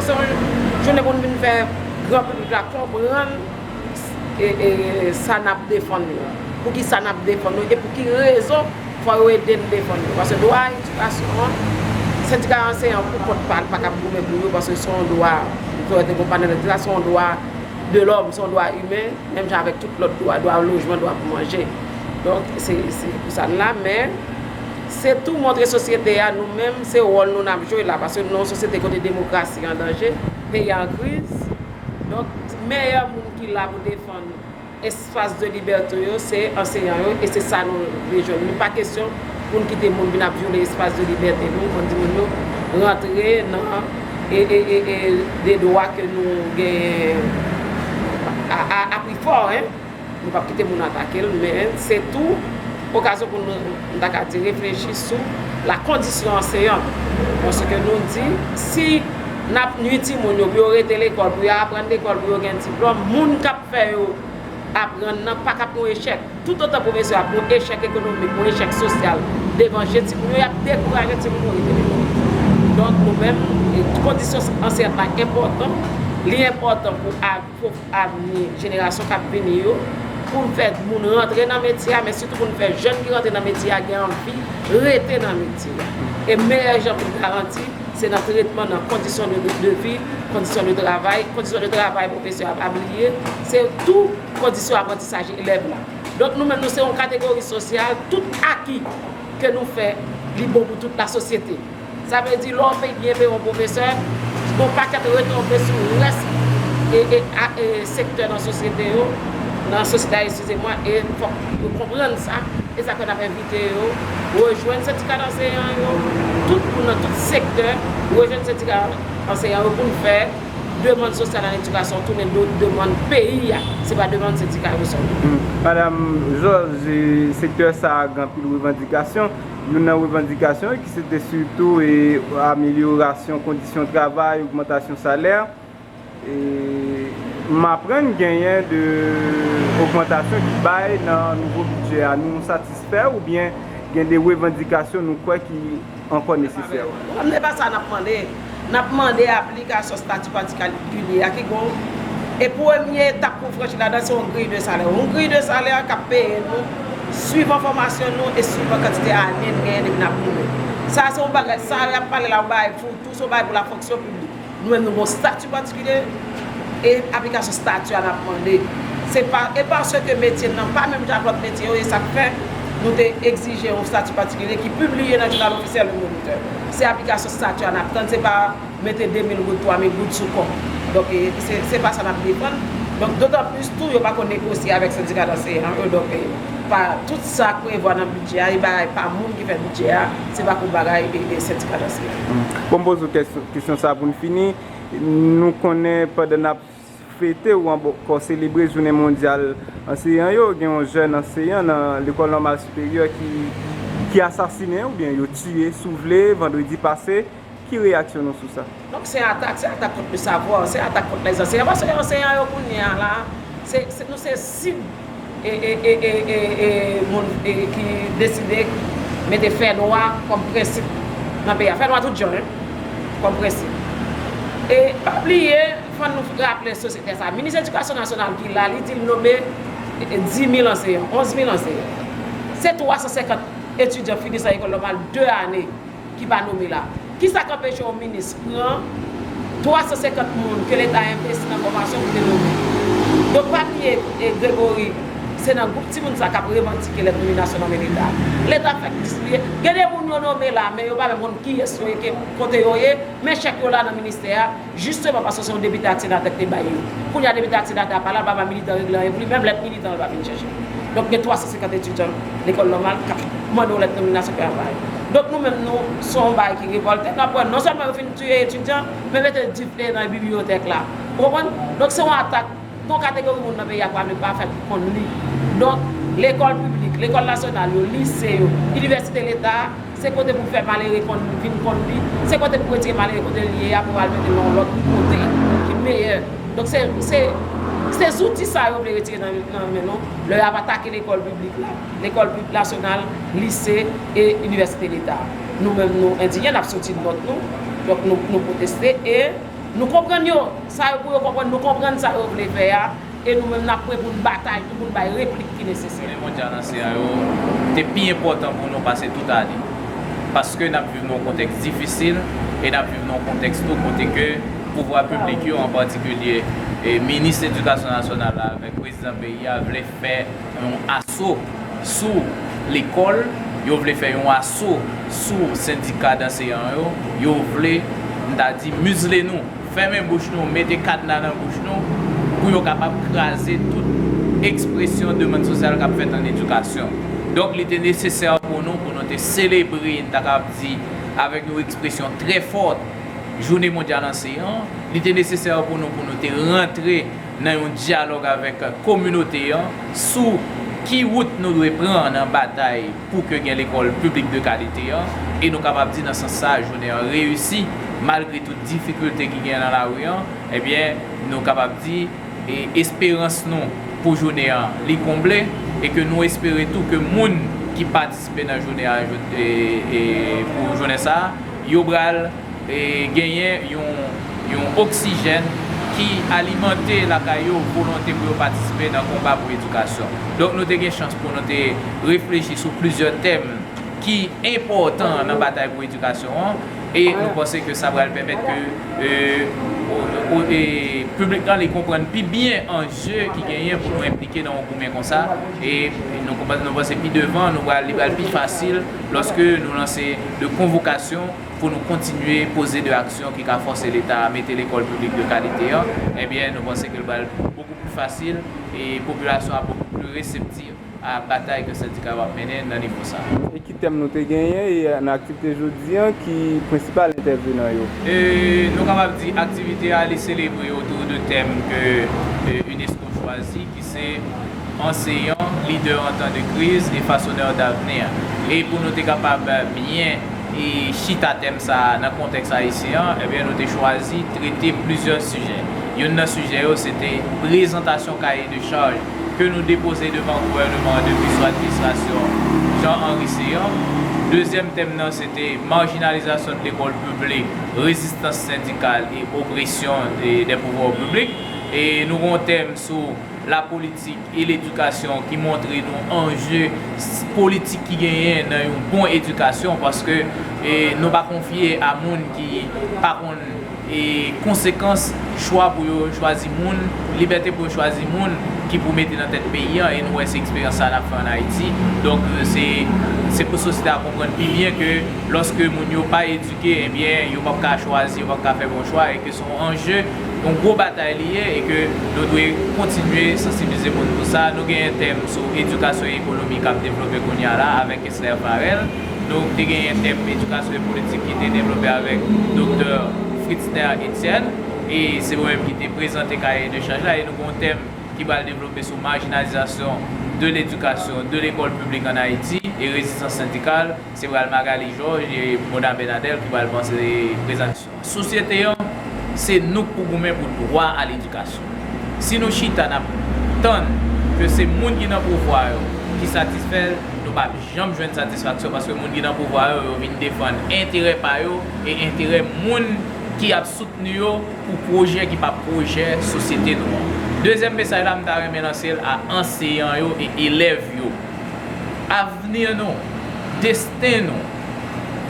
Se yon jounen pou nou vin fè gran piblik la konprann sa n ap defann yo, pou ki sa n ap defann yo e pou ki rezon fò yo ede n defann yo. Paske dwa edikasyon an, sendika anseyan pou kont pa l pa kab goumen pou yo paske se yon dwa, m kwè te gen yon panèl ki te di sa, se yon dwa de lòm, se yon dwa imen menm jan avèk tout lòt dwa, dwa lojman, dwa pou manje. Donk se pou sa n la men. Se tou montre sosyete a nou menm se wòl nou n ap jwe la paske nou nan yon sosyete kote demokrasi an danje, peyi a an kriz donk meyè moun ki la pou defann espas de libète yo se anseyan yo e se sa nou vle jwenn li pa kesyon pou n kite moun vin ap vyole espas de libète nou pou n di moun yo rantre nan de dwa ke nou genyen a pri fò. Nou pap kite moun atake l, men se tou okazyon pou nou, m ta ka di, reflechi sou lakondisyon anseyan nou. Paske nou di, si n ap nui timoun yo pou yo rete lekòl, pou yo aprann lekòl, pou yo gen diplòm, moun k ap fè yo aprann nan pa ka p yon echèk. Toutotan pwofesè yo ap yon echèk ekonomik, yon echèk sosyal devan je timoun yo, y ap dekouraje timoun yo rete lekòl. Donk nou menm, kondisyon anseyant la enpòtan, li enpòtan pou. pou avni jenerasyon k ap vini yo, pou n fè moun rantre nan metye a, men sitou pou n fè jèn ki rantre nan metye a gen anvi rete nan metye a. E meyè jan pou n garanti, se nan tretman, nan kondisyon de vi, kondisyon de travay, kondisyon de travay pwofesè a pa bliye, se tou kondisyon aprantisaj elèv la. Donk nou menm nou se yon kategori sosyal, tout aki ke nou fè li bon pou tout lasosyete. Sa vle di lè w fin byen peye yon pwofesè, gen yon pakèt retonbe sou rès sektè nan sosyete yo, nan sosyete a eskize mwen, e fòk yo konprann sa, e sa fè n ap envite yo rejwenn sendika danseyan yo, tout moun nan tout sektè rejwenn sendika anseyan yo pou n fè demann sosyal an edikasyon tounen demann peyi a, se pa demann sendika yo sèlman. Madam Jòj, sektè sa a gen anpil revandikasyon. Youn nan revandikasyon yo ki se te sitou e amelyorasyon kondisyon travay, ogmantasyon salè. E m aprann genyen 2 ogmantasyon ki bay nan nouvo bidjè a. Nou satisfè oubyen gen 2 revandikasyon nou kwè ki ankò nesesè? Kòm se pa sa n ap mande. n ap mande aplikasyon stati patikilye a ki gon e premye etap pou franchi ladan se yon griy de salè. Yon griy de salè k ap peye nou swivan fòmasyon nou e swivan kantite ane n genyen depi n ap moure. Sa se yon bagay, sa y ap pale la yon bagay pou tou, se yon bagay pou la fonksyon piblik. Nou menm nou gon stati patikilye e aplikasyon stati a n ap mande. Se pa, e paske metye n nan pa menm jan ak lòt metye yo e sa k fè nou te egzije yon stati patikilye ki pibliye nan jounal ofisyèl yon monitè. Se aplikasyon. Satya nap tann se pa mete 2 mil goud 3 mil goud sou kò donk se pa sa nap defann donk dotan plis tou yo pako negosye avèk sendika danseyan an yo donk pa tout sa prevwa nan bidjè a e bagay pa moun ki fè bidjè a se pa pou bagay e sendika danseyan an. Bon m poze w kesyon sa pou n fini nou konnen pandan nap. Fete ou ankò selebre jounen mondyal anseyan yo, gen yon jèn anseyan nan lekòl nòmal siperyè ki asasinen oubyen yo tiye sou vle vandredi pase, ki reyaksyon nou sou sa? Donk se atak, se atak kont le savwa, se atak kont les anseyans, paske anseyans yo kounye a la, nou se sib. moun ki deside mete fè nwa kòm prensip nan peyi a. Fè nwa tout jan hein kòm prensip. E pa bliye fò nou raple sosyete sa minis edikasyon nasyonal ki la li di l nome 10000 anseyan, 11000 anseyan. Se 350 etidyan fini san ekòl nòmal 2 ane. ki pa nome la. Kisa k anpeche yon minis pran 350 moun ke leta envesti nan fòmasyon pou te nome? Donk pa bliye Gregory se nan gwoup timoun sa k ap revandike lè nominasyon nan men leta. Leta ap fè plis bliye. Gen de moun yo nome la men yo pa menm konn kiyès yo ye, kote yo ye, men chèk yo la nan ministè a. Jisteman paske se yon depite ak senatè ki te bay yo. Kounya depite ak senatè a pa la, l pa ba militan regle anyen pou li, menm lèt militan yo pa vin chèche l. Donk gen 350 etidyan lekòl nòmal k ap mande yon lèt nominasyon pou y al ba yo. Donk nou menm nou se yon bagay ki revòlte, n ap wè non sèlman yo fin tiye etidyan, men mete dife nan bibliyotèk la. Ou konprann? Donk se yon atak. Gon kategori moun nan peyi a pale pafè ki konn li. Donk, lekòl piblik, lekòl nasyonal yo, lise yo, inivèsite leta a, se kote pou fè malere konn vin konn li, se kote pou retire malere kote li ye a pou al mete l nan yon lòt kote ki meyè. Donk se, se, se zouti sa yo vle retire nan nan men nou lè y ap atake lekòl piblik la, lekòl pi, nasyonal, lise e inivèsite leta a. Nou menm nou endinye, n ap soti nòt nou, donk nou, nou pwoteste e. Nou konprann yo sa yo pou yo konprann, nou konprann sa yo vle fè a, e nou menm n ap pre pou n batay tou pou n bay replik ki nesesè. Jounen mondyal ansyen an yo te pi enpòtan pou nou pase tout ane, paske n ap viv nan yon kontèks difisil e n ap viv nan yon kontèks tou kote ke pouvwa piblik yo, an patikilye Minis Edikasyon Nasyonal la avèk Prezidan peyi a vle. fè yon aso sou lekòl, yo vle fè yon aso sou sendika danseyan yo, yo vle, m ta di, mizle nou, fèmen bouch nou, mete kadna nan bouch nou, pou yo kapab kraze tout ekspresyon demann sosyal k ap fèt ann edikasyon. Donk, li te nesesè pou nou, pou nou te selebre, m ta kab di, avèk yon ekspresyon trè fòt, Jounen Mondyal Anseyan an, li te nesesè pou nou, pou nou te rantre. nan yon dyalòg avèk kominote an sou ki wout nou dwe pran nan batay pou ke gen lekòl piblik de kalite an, e nou kapab di nan sans sa a jounen an reyisi malgre tout difikilte ki gen nan lari an, ebyen nou kapab di e esperans nou pou jounen an li konble e ke nou espere tou ke moun ki patisipe nan jounen an e pou jounen sa a yo pral. genyen yon oksijèn ki alimante lakay yo volonte pou yo patisipe nan konba pou edikasyon. Donk nou te gen chans pou nou te reflechi sou plizyè tèm ki enpòtan nan batay pou edikasyon an e nou panse ke sa pral pèmèt ke piblik lan li konprann pi byen anje ki genyen pou nou enplike nan yon goumen konsa e nou panse pi devan li pral pi fasil lòske nou lanse de konvokasyon pou nou kontinye poze de aksyon ki ka fòse leta a mete lekòl piblik de kalite an, ebyen nou panse ke l pral bokou pli fasil e popilasyon ap bokou pli reseptif a batay ke sendika yo ap mennen nan nivo sa a. E ki tèm nou te genyen e nan aktivite jodi an ki prensipal entèvenan yo? E nou kapab di aktivite a li selebre otou de tèm ke unesco chwazi ki. Se Anseyan, Lidè an Tan de Kriz e Fasonèr Davni a. E pou nou te kapab byen chita tèm sa a nan kontèks ayisyen an, ebyen nou te chwazi trete plizyè sijè. Youn nan sijè yo se te prezantasyon kaye de chaj ke nou depoze devan gouvèneman an depi sou administrasyon Jean Henry Céant. Dezyèm tèm nan se te marjinalizasyon de lekòl piblik, rezistans sendikal e opresyon de pouvwa piblik. E nou gen yon tèm sou lapolitik e ledikasyon ki montre nou anje politik ki genyen nan yon bon edikasyon paske nou pa konfye a moun ki pa konn konsekans chwa pou yo chwazi moun, libète pou yo chwazi moun ki pou mete nan tèt peyi an e nou wè se eksperyans sa a n ap fè an Ayiti donk se pou sosyete a konprann pi byen ke lòske moun yo pa edike ebyen yo p ap ka chwazi yo p ap ka fè bon chwa e ke. yon anje, yon gwo batay li ye e ke nou dwe kontinye sansibilize moun pou sa. Nou gen yon tèm sou edikasyon e ekonomi k ap devlope kounye a la avèk Esther Farel. Nou te gen yon tèm edikasyon e politik ki te devlope avèk Doktè Fritzner Etienne e se mwen menm ki te prezante kaye de chaj la e nou gen yon tèm ki pral devlope sou marginalisation de l'éducation de l'école publique en Haïti et résistance syndicale. Se pral Magalie Georges et Mona Bernadel ki pral panse prezantsyon. Sosyete an, se nou k pou goumen pou dwa a ledikasyon. Si nou chita n ap tann ke se moun ki nan pouvwa yo ki satisfè l, nou p ap janm jwenn satisfaksyon paske moun ki nan pouvwa yo, yo vin defann enterè pa yo e enterè moun ki ap soutni yo pou pwojè ki pa pwojè sosyete nou an. Dezyèm mesaj la m ta renmen lanse l a anseyan yo e elèv yo. Avni nou, desten nou.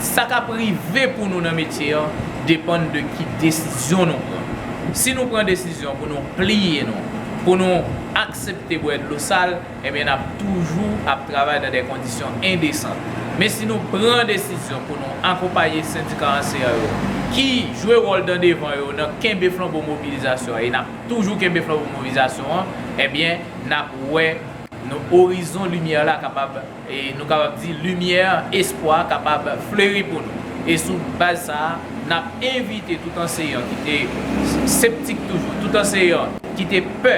Sa k ap rive pou nou nan metye an depann de ki desizyon nou pran. Si nou pran desizyon pou nou pliye nou, pou nou aksepte bwè dlo sal, ebyen n ap toujou ap travay nan de kondisyon endesan. Men si nou pran desizyon pou nou akonpaye sendika anseyan yo ki jwe wòl dan devan yo nan kenbe flanbo mobilizasyon an e n ap toujou kenbe flanbo mobilizasyon an, ebyen n ap wè orizon limyè la kapab. E nou kapab di limyè espwa kapab fleri pou nou. E sou baz sa a, n ap envite tout anseyan ki te septik toujou, tout anseyan ki te pè,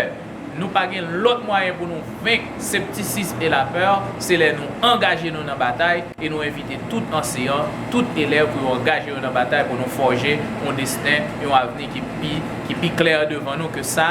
nou pa gen lòt mwayen pou nou venk septisis e lapè, se lè nou angaje nou nan batay, e nou envite tout anseyan, tout elèv pou yo angaje yo nan batay pou nou fòje yon desten, yon avni ki pi klè devan nou ke sa